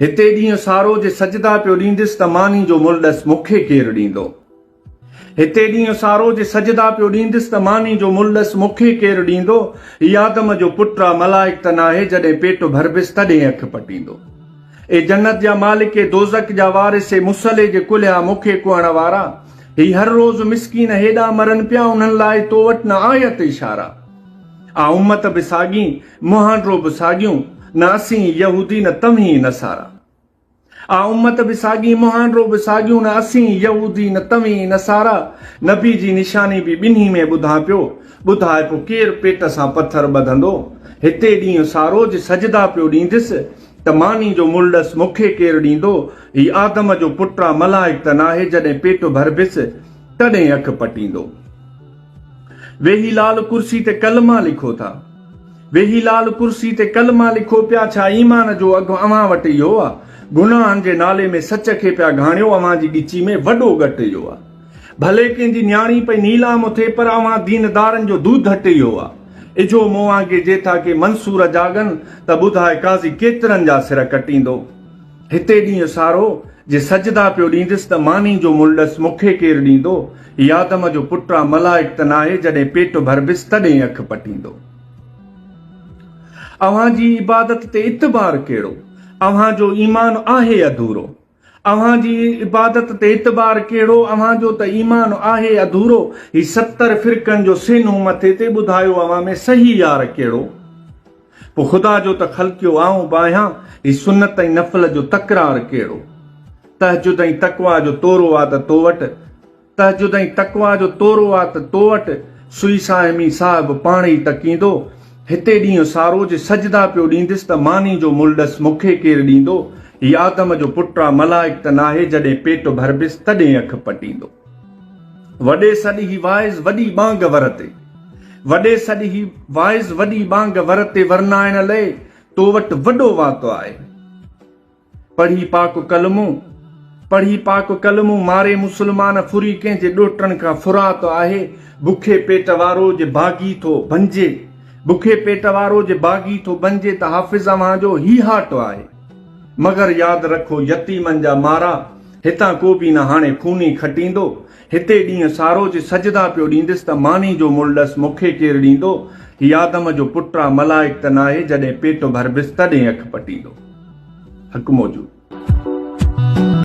هتي ڏينهن سارو جي سجدا پيو ڏيندس ته ماني جو مل ڏس مون کي ڪير ڏيندو. هتي ڏينهن سارو جي سجدا پيو ڏيندس ته ماني جو مل ڏس مون کي ڪير ڏيندو. هي آدم جو پٽ آ ملائڪ ته ناهي جڏهن پيٽ ڀربس تڏهن اک پٽيندو. اي جنت جا مالڪ اي دوزخ جا وارث اي مصلي جي ڪلها مون کي ڪهڻ وارا. هي هر روز مسڪين هيڏانهن مرن پيا انهن لاء تو وٽ نه آيت اشارا. آ امت به ساڳي. مهانڊرو به ساڳيون، نه اسين يهودي نه توهين نصارا. آ امت به ساڳي، مهانڊرو به ساڳيون، نه اسين يهودي نه توهين نصارا. نبي جي نشاني به ٻنهي ۾ ٻڌان پيو، ٻڌاء پو ڪير پيٽ سان پٿر ٻڌندو. هتي ڏينهن سارو جي سجدا پيو ڏينديس، ته ماني جو ملڏس مون کي ڪير ڏيندو. هي آدم جو پٽ آ، ملائڪ ته ناهي، جڏهن پيٽ ڀربيس تڏهين اک پٽيندو. ويهي لال ڪرسي تي ڪلمه لکو ٿا. ويهي لال ڪرسي تي ڪلمه لکو پيا ڇا ايمان جو اگهه اوهان وٽ اهو آ. گناهن جي نالي ۾ سچ کي پيا گهاڻيو اوهان جي ڳچي ۾ وڏو ڳٽ اهو آ. ڀلي ڪنهن جي نياڻي پئي نيلام اٿي پر اوهان دين دارن جو دود هٽ اهو آ. اجهو موهانگي جي ٿا ڪي منصور جاڳن ته ٻڌاء قاضي ڪيترن جا سر ڪٽيندو. هتي ڏينهن سارو جي سجدا پيو ڏيندس ته ماني جو ملڏس مون کي ڪير ڏيندو؟ هي آدم جو پٽ آ ملائڪ ته ناهي جڏهن پيٽ ڀربس تڏهن اک پٽيندو. اوهان جي عبادت تي اعتبار ڪهڙو؟ اوهان جو ايمان آهي اڌورو. اوهان جي عبادت تي اعتبار ڪهڙو؟ اوهان جو ته ايمان آهي اڌورو. هي ستر فرقن جو سين هو مٿي تي ٻڌايو اوهان ۾ صحيح يار ڪهڙو؟ پوء خدا جو ته خلقيو آئون به آهيان، هي سنت ۽ نفل جو تڪرار ڪهڙو؟ تهجد ۽ تقويٰ جو تورو آ ته تو وٽ، تهجد ۽ تقويٰ جو تورو آ ته تو وٽ، سوئي صائمي صاحب پاڻ ئي تڪيندو، هتي ڏينهن سارو جي سجدا پيو ڏينديس ته ماني جو ملهه ڏس مون کي ڪير ڏيندو، هي آدم جو پٽ آ ملائڪ ته ناهي جڏهن پيٽ ڀربيس تڏهن اک پٽيندو. وڏي سڏ هي واعظ وڏي ٻانگ ورتي. وڏي سڏ هي واعظ وڏي ٻانگ ورتي ورنائڻ لئه تو وٽ وڏو واتو آهي. پڙهي پاڪ ڪلمو، پڙهي پاڪ ڪلمو ماري مسلمان ڦري ڪنهن جي ڏوهٽڻ کان ڦرات آهي بکي پيٽ وارو جي باغي ٿو بنجي بکي پيٽ وارو جي باغي ٿو بنجي ته حافظ اوهان جو هي هاٽ آهي مگر ياد رکو يتيمن جا مارا هتان ڪو به نه هاڻي خوني کٽيندو، هتي ڏينهن سارو جي سجدا پيو ڏيندس ته ماني جو ملهه ڏس مون کي ڪير ڏيندو، هي آدم جو پٽ آ ملائڪ ته ناهي جڏهن پيٽ ڀربس تڏهن اک پٽيندو. حق موجود.